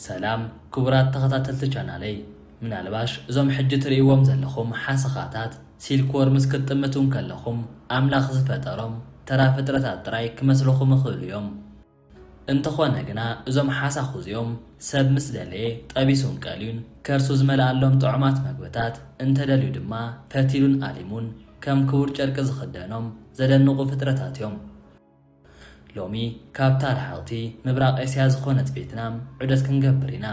ሰላም ክቡራት ተኸታተልቲ ቻናለይ ምናልባሽ እዞም ሕጂ ትርእይዎም ዘለኹም ሓሰኻታት ሲልክዎርምስ ክትጥምቱ እንከለኹም ኣምላኽ ዝፈጠሮም ተራ ፍጥረታት ጥራይ ክመስሉኹም ይኽእሉ እዮም እንተኾነ ግና እዞም ሓሳኹ እዚኦም ሰብ ምስ ደለየ ጠቢሱን ቀልዩን ከርሱ ዝመልኣሎም ጥዑማት መግብታት እንተደልዩ ድማ ፈቲሉን ኣሊሙን ከም ክቡር ጨርቂ ዝኽደኖም ዘደንቑ ፍጥረታት እዮም ሎሚ ካብታ ረሓቕቲ ምብራቕ ኤስያ ዝኾነት ቬትናም ዑደት ክንገብር ኢና።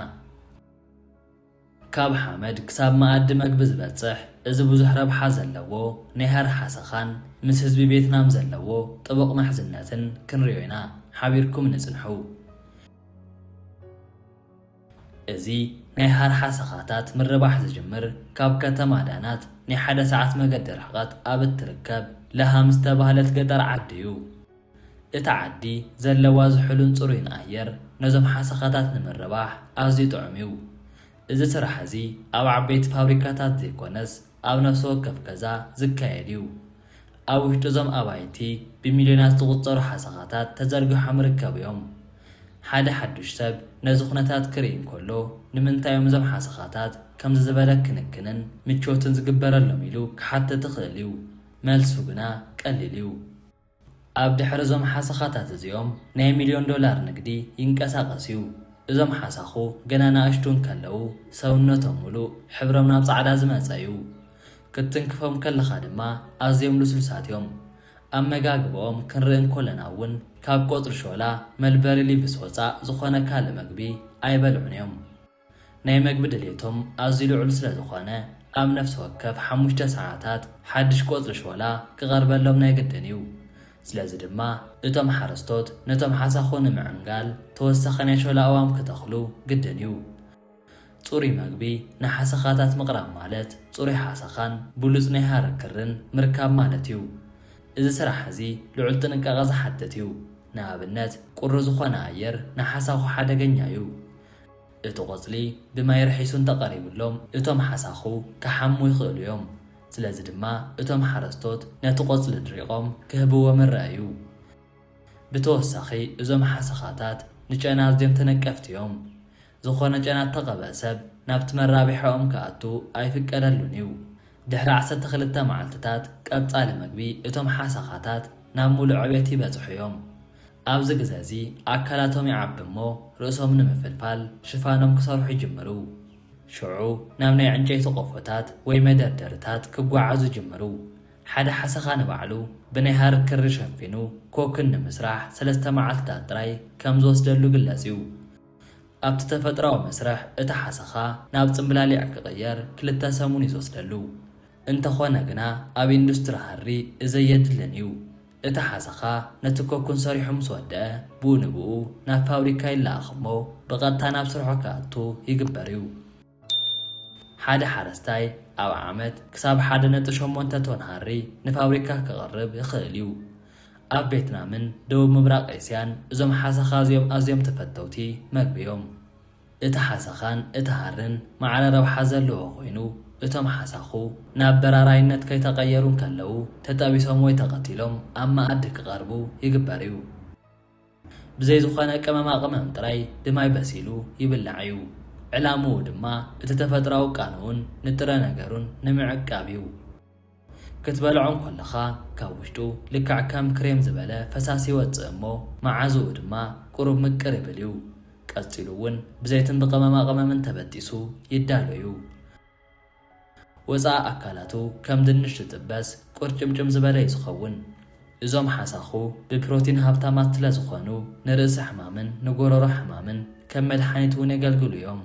ካብ ሓመድ ክሳብ መኣዲ መግቢ ዝበጽሕ እዚ ብዙሕ ረብሓ ዘለዎ ናይ ሃሪ ሓሰኻን ምስ ህዝቢ ቬትናም ዘለዎ ጥቡቕ ምሕዝነትን ክንሪኦ ኢና። ሓቢርኩም ንጽንሑ። እዚ ናይ ሃርሓ ሰኻታት ምርባሕ ዝጅምር ካብ ከተማ ዳናት ናይ ሓደ ሰዓት መገዲ ርሕቐት ኣብ እትርከብ ለሃም ዝተባህለት ገጠር ዓዲ እዩ። እታ ዓዲ ዘለዋ ዝሑልን ጽሩይን ኣየር ነዞም ሓሰኻታት ንምርባሕ ኣዝዩ ጥዑም እዩ። እዚ ስራሕ እዚ ኣብ ዓበይቲ ፋብሪካታት ዘይኮነስ፣ ኣብ ነፍሲ ወከፍ ገዛ ዝካየድ እዩ። ኣብ ውሽጢ እዞም ኣባይቲ ብሚልዮናት ዝቑጸሩ ሓሰኻታት ተዘርጊሖም ይርከቡ እዮም። ሓደ ሓዱሽ ሰብ ነዚ ኩነታት ክርኢ እንከሎ ንምንታይ እዮም እዞም ሓሰኻታት ከምዚ ዝበለ ክንክንን ምቾትን ዝግበረሎም ኢሉ ክሓትት ይኽእል እዩ። መልሱ ግና ቀሊል እዩ። ኣብ ድሕሪ እዞም ሓሰኻታት እዚኦም ናይ ሚልዮን ዶላር ንግዲ ይንቀሳቐስ እዩ። እዞም ሓሳኹ ገና ናእሽቱ እንከለዉ ሰውነቶም ምሉእ ሕብሮም ናብ ጻዕዳ ዝመጸ እዩ። ክትትንክፎም ከለኻ ድማ ኣዝዮም ልስሉሳት እዮም። ኣመጋግባኦም ክንርኢ እንኮለና እውን ካብ ቆጽሊ ሾላ፣ መልበሪ ሊቭስ ወጻእ ዝኾነ ካልእ መግቢ ኣይበልዑን እዮም። ናይ መግቢ ድሌቶም ኣዝዩ ልዑል ስለ ዝኾነ፣ ኣብ ነፍሲ ወከፍ ሓሙሽተ ሰዓታት ሓድሽ ቆጽሊ ሾላ ክቐርበሎም ናይ ግድን እዩ። ስለዚ ድማ እቶም ሓረስቶት ነቶም ሓሳኹ ንምዕንጋል ተወሳኺ ናይ ሾላ ኣእዋም ክተኽሉ ግድን እዩ። ጽሩይ መግቢ ንሓሰኻታት ምቕራብ ማለት ጽሩይ ሓሰኻን ብሉጽ ናይ ሃረር ክርን ምርካብ ማለት እዩ። እዚ ስራሕ እዚ ልዑል ጥንቃቐ ዝሓትት እዩ። ንኣብነት ቁሪ ዝኾነ ኣየር ንሓሳኹ ሓደገኛ እዩ። እቲ ቆጽሊ ብማይ ርሒሱ እንተቀሪብሎም እቶም ሓሳኹ ክሓሙ ይኽእሉ እዮም። ስለዚ ድማ እቶም ሓረስቶት ነቲ ቆጽሊ ድሪቆም ክህብዎ መረኣይ እዩ። ብተወሳኺ እዞም ሓሰኻታት ንጨና ኣዝዮም ተነቀፍቲ እዮም። ዝኾነ ጨና እተቐብኣ ሰብ ናብቲ መራብሕኦም ክኣቱ ኣይፍቀደሉን እዩ። ድሕሪ ዓሰርተ ክልተ መዓልቲታት ቀጻሊ መግቢ እቶም ሓሰኻታት ናብ ሙሉእ ዕቤት ይበጽሑ እዮም። ኣብዚ ግዘ እዚ ኣካላቶም ይዓቢ እሞ ርእሶም ንምፍልፋል ሽፋኖም ክሰርሑ ይጅምሩ። ሽዑ ናብ ናይ ዕንጨይቲ ቆፎታት ወይ መደርደሪታት ክጓዓዙ ይጅምሩ። ሓደ ሓሰኻ ንባዕሉ ብናይ ሃሪ ክሪ ሸፊኑ ኮኩን ንምስራሕ ሰለስተ መዓልቲታት ጥራይ ከም ዝወስደሉ ይግለጽ እዩ። ኣብቲ ተፈጥሮኣዊ መስርሕ እቲ ሓሰኻ ናብ ጽምብላሊዕ ክቕየር ክልተ ሰሙን እዩ ዝወስደሉ። እንተኾነ ግና ኣብ ኢንዱስትሪ ሃሪ እዘይ የድልን እዩ። እቲ ሓሰኻ ነቲ ኮኩን ሰሪሑ ምስ ወደኣ ብኡ ንብኡ ናብ ፋብሪካ ይለኣኽ እሞ ብቐጥታ ናብ ስርሑ ክኣቱ ይግበር እዩ። ሓደ ሓረስታይ ኣብ ዓመት ክሳብ ሓደ ነጥቢ ሸሞንተ ቶን ሃሪ ንፋብሪካ ከቕርብ ይኽእል እዩ። ኣብ ቬትናምን ደቡብ ምብራቕ ኤስያን እዞም ሓሰኻ እዚኦም ኣዝዮም ተፈተውቲ መግቢ እዮም። እቲ ሓሰኻን እቲ ሃርን ማዕረ ረብሓ ዘለዎ ኮይኑ፣ እቶም ሓሳኹ ናብ በራራይነት ከይተቐየሩ እንከለዉ ተጠቢሶም ወይ ተቐቲሎም ኣብ መኣዲ ክቐርቡ ይግበር እዩ። ብዘይ ዝኾነ ቅመማቕመም ጥራይ ብማይ በሲሉ ይብላዕ እዩ። ዕላምኡ ድማ እቲ ተፈጥሮኣዊ ቃንኡን ንጥረ ነገሩን ንምዕቃብ እዩ። ክትበልዖ እንከለኻ ካብ ውሽጡ ልክዕ ከም ክሬም ዝበለ ፈሳሲ ይወጽእ እሞ መዓዝኡ ድማ ቁሩብ ምቅር ይብል እዩ። ቀጺሉ እውን ብዘይትን ብቐመማ ቐመምን ተበጢሱ ይዳሎ እዩ። ወጻኢ ኣካላቱ ከም ድንሽ ዝጥበስ ቁርጭምጭም ዝበለ እዩ ዝኸውን። እዞም ሓሳኹ ብፕሮቲን ሃብታማት ስለ ዝኾኑ ንርእሲ ሕማምን ንጎሮሮ ሕማምን ከም መድሓኒት እውን የገልግሉ እዮም።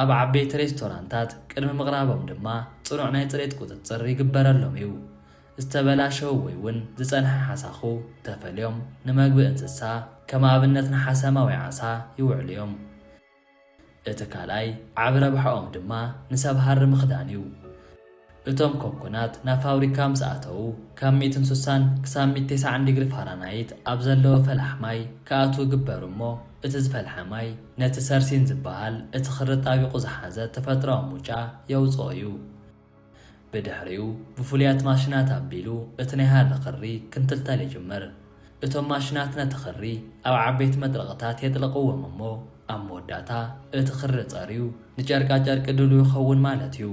ኣብ ዓበይቲ ሬስቶራንታት ቅድሚ ምቕራቦም ድማ ጽኑዕ ናይ ጽሬት ቁጽጽር ይግበረሎም እዩ። ዝተበላሸዉ ወይ ውን ዝጸንሐ ሓሳኹ ተፈልዮም ንመግቢ እንስሳ፣ ከም ኣብነት ንሓሰማ ወይ ዓሳ፣ ይውዕሉ እዮም። እቲ ካልኣይ ዓቢ ረብሓኦም ድማ ንሰብ ሃሪ ምኽዳን እዩ። እቶም ኮኩናት ናብ ፋብሪካ ምስ ኣተዉ፣ ካብ ሚእትን ሱሳን ክሳብ ሚእቲ ቴስዓን ዲግሪ ፋራናይት ኣብ ዘለዎ ፈላሕ ማይ ክኣትዉ ይግበሩ እሞ እቲ ዝፈልሐ ማይ ነቲ ሰርሲን ዝበሃል እቲ ክሪ ኣጣቢቑ ዝሓዘ ተፈጥሮኣዊ ሙጫ የውጽኦ እዩ። ብድሕሪኡ ብፍሉያት ማሽናት ኣቢሉ እቲ ናይ ሃሪ ክሪ ክንትልተል ይጅምር። እቶም ማሽናት ነቲ ክሪ ኣብ ዓበይቲ መጥረቕታት የጥልቕዎም እሞ፣ ኣብ መወዳእታ እቲ ክሪ ጸርዩ ንጨርቃጨርቂ ድሉው ይኸውን ማለት እዩ።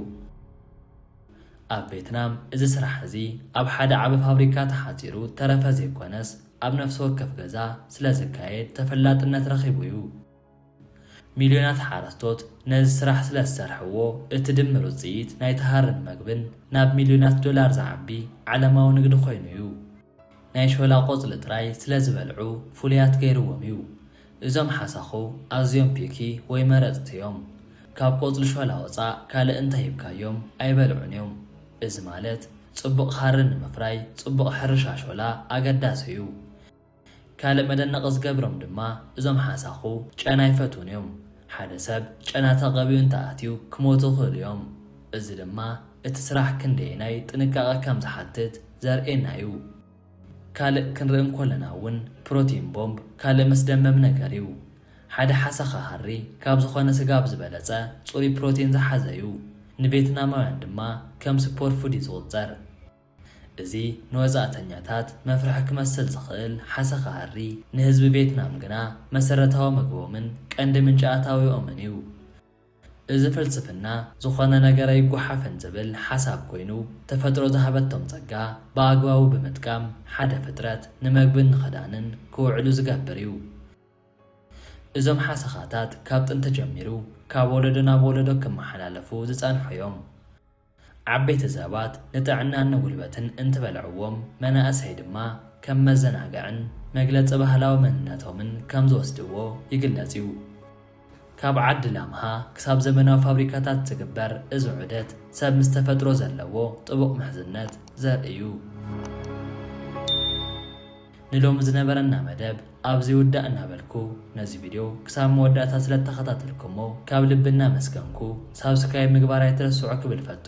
ኣብ ቬትናም እዚ ስራሕ እዚ ኣብ ሓደ ዓቢ ፋብሪካ ተሓጺሩ እተረፈ ዘይኰነስ ኣብ ነፍሲ ወከፍ ገዛ ስለ ዝካየድ ተፈላጥነት ረኺቡ እዩ። ሚልዮናት ሓረስቶት ነዚ ስራሕ ስለ ዝሰርሕዎ እቲ ድምር ውጽኢት ናይቲ ሃርን መግብን ናብ ሚልዮናት ዶላር ዝዓቢ ዓለማዊ ንግዲ ኰይኑ እዩ። ናይ ሾላ ቆጽሊ ጥራይ ስለ ዝበልዑ ፍሉያት ገይርዎም እዩ። እዞም ሓሳኹ ኣዝዮም ፒኪ ወይ መረጽቲ እዮም። ካብ ቆጽሊ ሾላ ወጻእ ካልእ እንተ ሂብካዮም ኣይበልዑን እዮም። እዚ ማለት ጽቡቕ ሃሪ ንምፍራይ ጽቡቕ ሕርሻ ሾላ ኣገዳሲ እዩ። ካልእ መደነቒ ዝገብሮም ድማ እዞም ሓሳኹ ጨና ኣይፈትዉን እዮም። ሓደ ሰብ ጨና ተቐቢኡ እንተ ኣትዩ ክሞቱ ይኽእሉ እዮም። እዚ ድማ እቲ ስራሕ ክንደየናይ ጥንቃቐ ከም ዝሓትት ዘርእየና እዩ። ካልእ ክንርኢ እንኮለና እውን ፕሮቲን ቦምብ ካልእ መስደመሚ ነገር እዩ። ሓደ ሓሰኻ ሃሪ ካብ ዝኾነ ስጋ ብ ዝበለፀ ፅሩይ ፕሮቲን ዝሓዘ እዩ። ንቬትናማውያን ድማ ከም ሱፐር ፉድ እዩ ዝቑፀር። እዚ ንወፃእተኛታት መፍርሒ ክመስል ዝኽእል ሓሰኻ ሃሪ ንህዝቢ ቬትናም ግና መሰረታዊ ምግቦምን ቀንዲ ምንጪ ኣታዊኦምን እዩ። እዚ ፍልስፍና ዝኾነ ነገር ኣይጎሓፍን ዝብል ሓሳብ ኮይኑ፣ ተፈጥሮ ዝሃበቶም ጸጋ ብኣግባቡ ብምጥቃም ሓደ ፍጥረት ንመግብን ንኽዳንን ክውዕሉ ዝገብር እዩ። እዞም ሓሰኻታት ካብ ጥንቲ ጀሚሩ ካብ ወለዶ ናብ ወለዶ ክመሓላለፉ ዝጸንሑ'ዮም። ዓበይቲ ሰባት ንጥዕናን ንጉልበትን እንትበልዕዎም፣ መናእሰይ ድማ ከም መዘናግዕን መግለፂ ባህላዊ መንነቶምን ከም ዝወስድዎ ይግለፅ እዩ። ካብ ዓዲ ላምሃ ክሳብ ዘመናዊ ፋብሪካታት ዝግበር እዚ ዑደት ሰብ ምስ ተፈጥሮ ዘለዎ ጥቡቕ ምሕዝነት ዘርኢ እዩ። ንሎሚ ዝነበረና መደብ ኣብዚ ይውዳእ እናበልኩ ነዚ ቪድዮ ክሳብ መወዳእታ ስለ ተኸታተልኩሞ ካብ ልቢ እናመስገንኩ ሳብስክራይብ ምግባር ኣይትረስዑ ክብል እፈቱ።